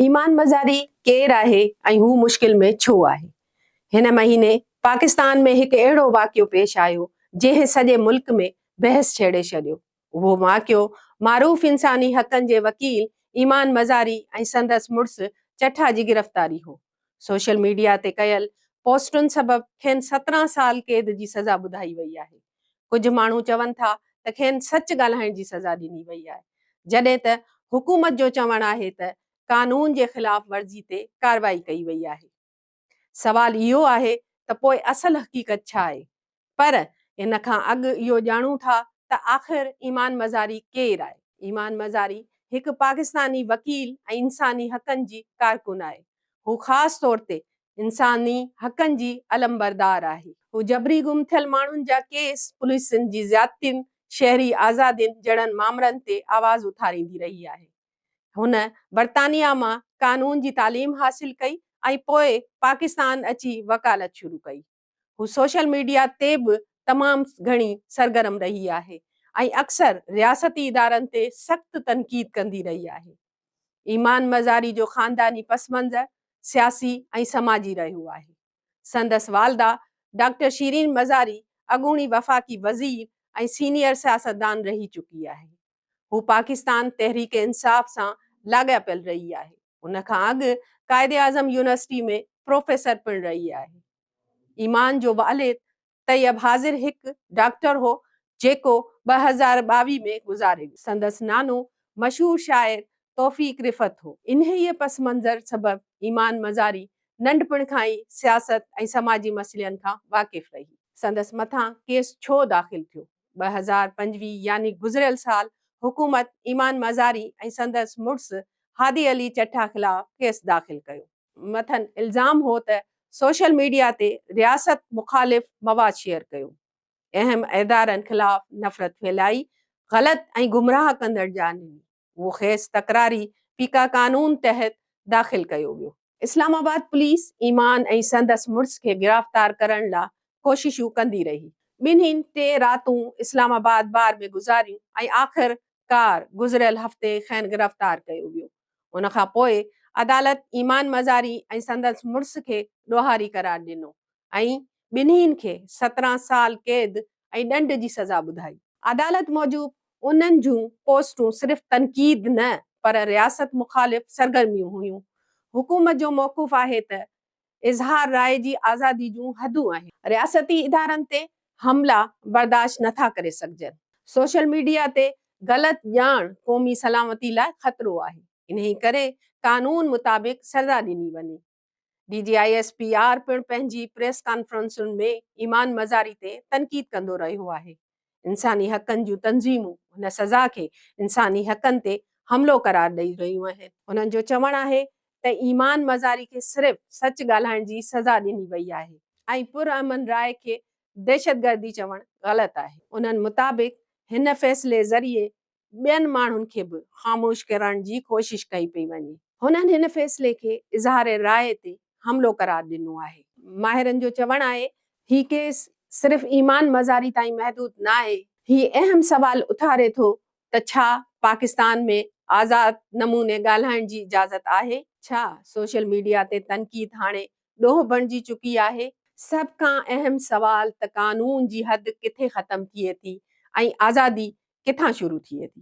ايمان مزاري ڪير آهي ۽ هو مشڪل ۾ ڇو آهي؟ هن مهيني پاڪستان ۾ هڪ اهڙو واقعو پيش آيو جنهن سڄي ملڪ ۾ بحث ڇيڙي ڇڏيو. اهو واقعو معروف انساني حقن جي وڪيل ايمان مزاري ۽ سندس مڙس چٺا جي گرفتاري هو. سوشل ميڊيا تي ڪيل پوسٽن سبب کين سترهن سال قيد جي سزا ٻڌائي وئي آهي. ڪجهه ماڻهو چون ٿا ته کين سچ ڳالهائڻ جي سزا ڏني وئي آهي، جڏهن ته حڪومت جو چوڻ آهي ته قانون جي خلاف ورزي تي ڪارروائي ڪئي وئي آهي. سوال اهو آهي ته پوء اصل حقيقت ڇا آهي؟ پر ان کان اڳ اهو ڄاڻون ٿا ته آخر ايمان مزاري ڪير آهي؟ ايمان مزاري هڪ پاڪستاني وڪيل ۽ انساني حقن جي ڪارڪن آهي. هو خاص طور تي انساني حقن جي علمبردار آهي. هو جبري گم ٿيل ماڻهن جا ڪيس، پوليسن جي زيادتين، شهري آزادين جهڙن مامرن تي آواز اٿاريندي رهي آهي. هن برطانيا مان قانون جي تعليم حاصل ڪئي ۽ پوء پاڪستان اچي وڪالت شروع ڪئي. هو سوشل ميڊيا تي به تمام گهڻي سرگرم رهي آهي ۽ اڪثر رياستي ادارن تي سخت تنقيد ڪندي رهي آهي. ايمان مزاري جو خانداني پس منظر سياسي ۽ سماجي رهيو آهي. سندس والده ڊاڪٽر شيرين مزاري اڳوڻي وفاقي وزير ۽ سينيئر سياستدان رهي چڪي آهي. هو پاڪستان تحريڪ انصاف سان لاڳاپيل رهي آهي. ان کان اڳ قائداعظم يونيورسٽي ۾ پروفيسر پڻ رهي آهي. ايمان جو والد طيب حاضر هڪ ڊاڪٽر هو، جيڪو ٻه هزار ٻاويهه ۾ گذاري ويو. سندس نانو مشهور شاعر توفيق رفعت هو. انهيء پس منظر سبب ايمان مزاري ننڍپڻ کان ئي سياست ۽ سماجي مسئلن کان واقف رهي. سندس مٿان ڪيس ڇو داخل ٿيو؟ ٻه هزار پنجويهه يعني گذريل سال حڪومت ايمان مزاري ۽ سندس مڙس هادي علي چٺا خلاف ڪيس داخل ڪيو. مٿن الزام هو ته سوشل ميڊيا تي رياست مخالف مواد شيئر ڪيو، اهم ادارن خلاف نفرت ڦهلائي، غلط ۽ گمراهه ڪندڙ جاء ڏني. اهو خيس تڪراري فيڪا قانون تحت داخل ڪيو ويو. اسلام آباد پوليس ايمان ۽ سندس مڙس کي گرفتار ڪرڻ لا ڪوششون ڪندي رهي. ٻنهين ٽي راتون اسلام آباد بار ۾ گذاريون ۽ آخر ڪار گذريل هفتي کين گرفتار ڪيو ويو. ان کان پوء عدالت ايمان مزاري ۽ سندس مڙس کي ڏوهاري قرار ڏنو ۽ ٻنهين کي سترهن سال قيد ۽ ڏنڊ جي سزا ٻڌائي. عدالت موجب انهن جون پوسٽون صرف تنقيد نه پر رياست مخالف سرگرميون هيون. حڪومت جو موقف آهي ته اظهار راء جي آزادي جون حدون آهن. رياستي ادارن تي حملا برداشت نه ٿا ڪري سگهجن. سوشل ميڊيا تي غلط ڄاڻ قومي سلامتي لاء خطرو آهي. انهي ڪري قانون مطابق سزا ڏني وڃي. D G I S P R پڻ پنهنجي پريس ڪانفرنسن ۾ ايمان مزاري تي تنقيد ڪندو رهيو آهي، انساني حقن جون تنظيمون هن سزا کي انساني حقن تي حملو قرار ڏئي رهيون آهن. هنن جو چوڻ آهي ته ايمان مزاري کي صرف سچ ڳالهائڻ جي سزا ڏني وئي آهي ۽ پرامن راء کي دهشتگردي چوڻ غلط آهي. انهن مطابق هن فيصلي ذريعي ٻين ماڻهن کي به خاموش ڪرڻ جي ڪوشش ڪئي پئي وڃي. هنن هن فيصلي کي اظهار راء تي حملو قرار ڏنو آهي. ماهرن جو چوڻ آهي هي ڪيس صرف ايمان مزاري تائين محدود ناهي. هي اهم سوال اٿاري ٿو ته ڇا پاڪستان ۾ آزاد نموني ڳالهائڻ جي اجازت آهي؟ ڇا سوشل ميڊيا تي تنقيد هاڻي ڏوهه بڻجي چڪي آهي. سڀ کان اهم سوال ته قانون جي حد ڪٿي ختم ٿئي ٿي ۽ آزادي ڪٿان شروع ٿئي ٿي؟